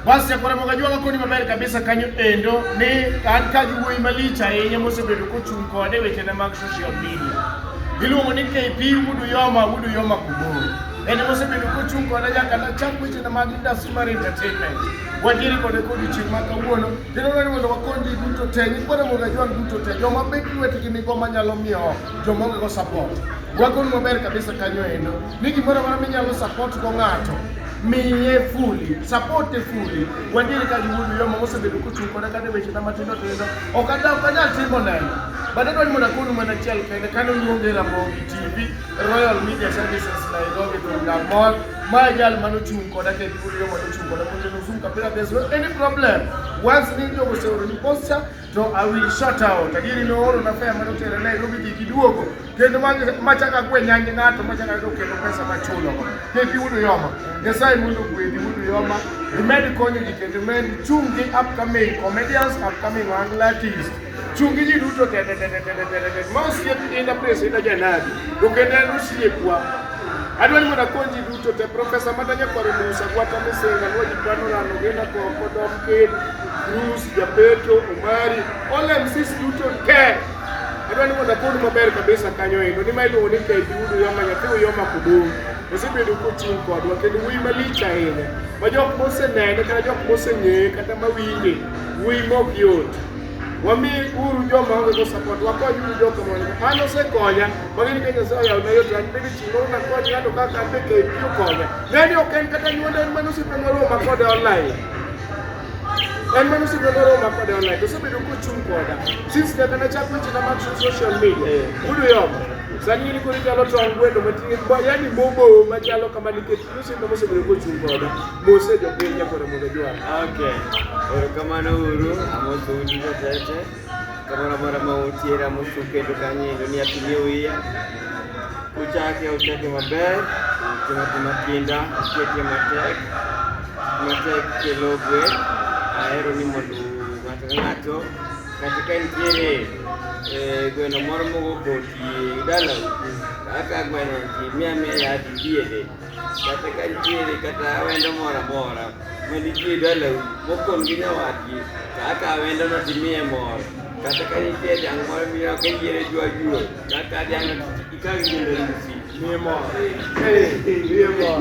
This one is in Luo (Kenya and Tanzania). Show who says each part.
Speaker 1: Bas Jakwaramboga jwaga koni maber kabisa kanyo endo ni an ka gi wuoyi malich ahinya mosebedo kochung' kode wechena mag social media. Iluongo ni KP Wudu Yoma, Wudu Yoma Kuburu. En mosebedo kochung' koda nyaka nachak wechena mag industry mar entertainment. Wadiere kode kodiochieng' ma kawuono, kendo dwaro ni mondo wakony ji duto te, nyikwana mondo ajwang duto te, joma bet lwetgi nigo manyalo miyo joma ongego support. Wakonu maber kabisa kanyo endo. ni gimoro amora minyalo support go ng'ato miye fuli sapote fuli wandiere ka giwuodo yo mama osebedo kochung' koda kata wechena matindo tindo ok anyal timo neno but adwa ni mondo akonu mana achiel kende kane oluonge ramogi tv royal media services nairobi from damol ma jal mane ochung' koda kendo giwuodo yo mane ochung' koda kocheno zoom kapira there's no any problem once ni jogo oseoroni posture to I will shut out. Adieri nooro na fea mane otera ne go gidhi giduogo kendo machaka kwe nyange ng'ato machaka go kendo pesa machulo go kepi udu yoma Nyasaye mondo gwedhi udu yoma imed konyo ji kendo imed chung' gi upcoming comedians upcoming angle artists chung' gi ji duto tete tete tete tete tete ma osiep inda pres inda janadi to kendo en osiepwa adwa ni mondo akony ji duto te profesa madanya kwaro musa gwata misinga nwa ji pano rano genda koko dom kedi Bruce, Japeto, Omari, all MCs duto te. Adwa ni mondo apod maber kabisa kanyo endo ni ma iluongo ni KP Udu Yoma nyathi Uyoma Kudumu. Osebedo kochung' kodwa kendo wuoyi malich ahinya ma jok mosenene kata jok moseng'eye kata mawinje wuoyi mok yot. Wami uru joma onge go support wakony uru jok mondo an osekonya magi ni Kenya sasa yaona yote an bende chimo na kwa ng'ato kaka an be KP okonya. Ngani ok en kata nyuonda en mana osiepe moro ma kode online. en mano osiko noroma kode online to osebedo kochung' koda since kaka nachako wechena mag social media eh. yudo yom sani ng'eni koro inyalo tong' gweno mating'e yani momo machalo kama nikech osimba mosebedo kochung' koda mose jopiny nyakore mondo jwar okay
Speaker 2: erokamano uru amosoundi jotete Kamano mara ma otiera mosuketo kanye endo ni apinie wiya uchake uchake maber timo gima kinda uketie matek matek kelo gwe ahero ni mondo ng'ato ka ng'ato kata ka nitiere eh, gweno moro mogo koti dalau kaka gweno ji mia mia yadi diere kata ka nitiere kata wendo moro amora manitie dalau mokon gi nyawadgi to akawo wendono timiye mor kata ka nitie dhiang' moro miyo kayiere jwa juo kata dhiang' ikaw gi ndorusi miye mor miye mor